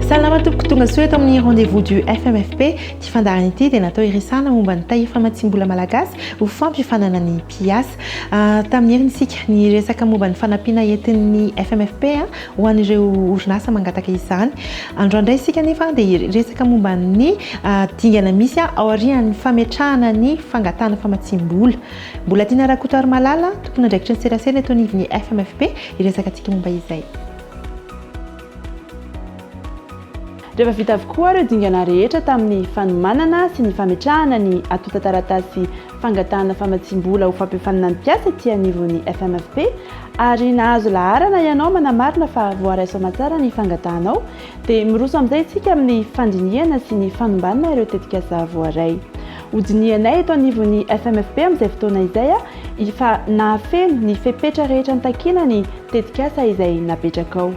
Salama tompoko tonga soa eto amin'ny rendez-vous du FMFP. Ity fandaharana ity dia natao hiresahana momba ny tahiry famatsiam-bola malagasy ho fampifanana ny mpiasa. Ah, tamin'ny heriny isika ny resaka momba ny fanampiana entin'ny FMFP ah, ho an'ireo orinasa mangataka izany. Androany indray isika nefa dia hiresaka momba ny ah, dingana misy ah, aorian'ny fametrahana ny fangatahana famatsiam-bola. Mbolatiana Rakotarimalala, tomponandraikitry ny serasera eto anivon'ny FMFP, hiresaka antsika momba izay. Rehefa vita avokoa ireo dingana rehetra tamin'ny fanomanana sy ny fametrahana ny antontan-taratasy fangatahana famatsiam-bola ho fampiofanana ny mpiasa ety anivon'ny FMFP ary nahazo laharana ianao manamarina fa voaraiso aman-tsara ny fangatahanao dia miroso amin'izay isika amin'ny fandinihana sy ny fanombanana ireo tetikasa voaray Hodinihanay eto anivon'ny FMFP amin'izay fotoana izay fa nahafeno ny fepetra rehetra nitakiana ny tetikasa izay napetrakao.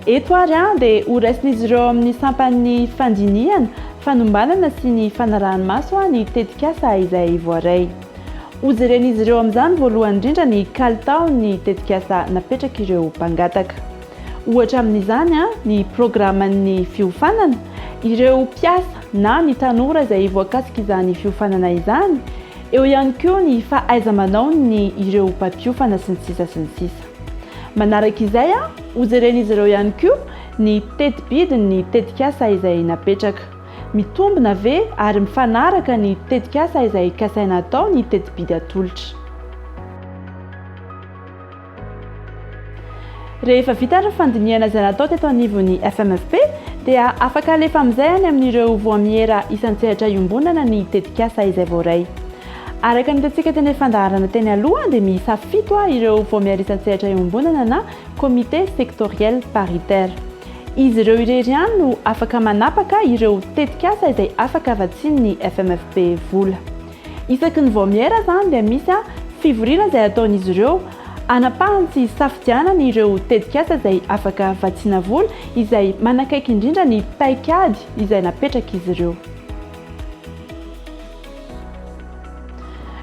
Eto ary dia horaisin'izy ireo ao amin'ny sampan'ny fandinihana, fanombanana sy ny fanaraha-maso ny tetikasa izay voaray. Hojeren'izy ireo amin'izany voalohany indrindra ny kalitaon'ny tetikasa napetrak'ireo mpangataka. Ohatra amin'izany ny programan'ny fiofanana, ireo mpiasa na ny tanora izay voakasik'izany fiofanana izany, eo ihany koa ny fahaiza-manaon'ny ireo mpampiofana sy ny sisa sy ny sisa. Manaraka izay hojeren'izy ireo ihany koa ny teti-bidin'ny tetikasa izay napetraka. Mitombina ve ary mifanaraka ny tetikasa izay kasaina atao ny teti-bidy atolotra. Rehefa vita ny fandinihana izay natao teto anivon'ny FMFP dia afaka alefa amin'izay any amin'ireo voamiera isan-tsehatra iombonana ny tetikasa izay voaray. Araka ny hitantsika teny fandaharana teny aloha dia miisa fito ireo voamiera isan-tsehatra iombonana na comité sectoriel paritaire. Izy ireo irery ihany no afaka manapaka ireo tetikasa izay afaka vatsian'ny FMFP vola. Isaky ny vao miera izany dia misy fivoriana izay ataon'izy ireo hanapahany sy hisafidianany ireo tetikasa izay afaka vatsiana vola izay manakaiky indrindra ny paikady izay napetrak'izy ireo.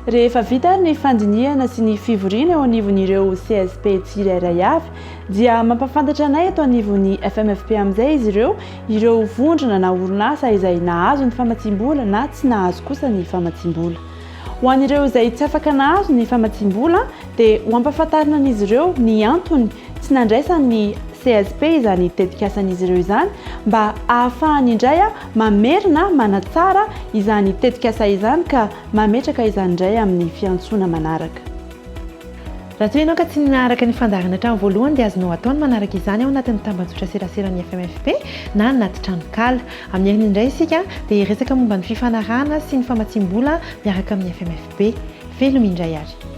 Rehefa vita ary ny fandinihana sy ny fivoriana eo anivon'ireo CSP tsirairay avy dia mampahafantatra anay eto anivon'ny FMFP amin'izay izy ireo Ireo vondrona na orinasa izay nahazo ny famatsiam-bola na tsy nahazo kosa ny famatsiam-bola. Ho an'ireo izay tsy afaka nahazo ny famatsiam-bola dia ho ampahafantarina an'izy ireo ny antony tsy nandraisan'ny CSP izany tetikasan'izy ireo izany mba ahafahany indray mamerina manatsara izany tetikasa izany ka mametraka izany indray amin'ny fiantsoana manaraka. Raha toa ianao ka tsy naharaka ny fandaharana hatramin'ny voalohany dia azonao atao ny manaraka izany ao anatin'ny tambajotra seraseran'ny FMFP na anaty tranonkala. Amin'ny heriny indray isika dia hiresaka momba ny fifanarahana sy ny famatsiam-bola miaraka amin'ny FMFP. Veloma indray ary.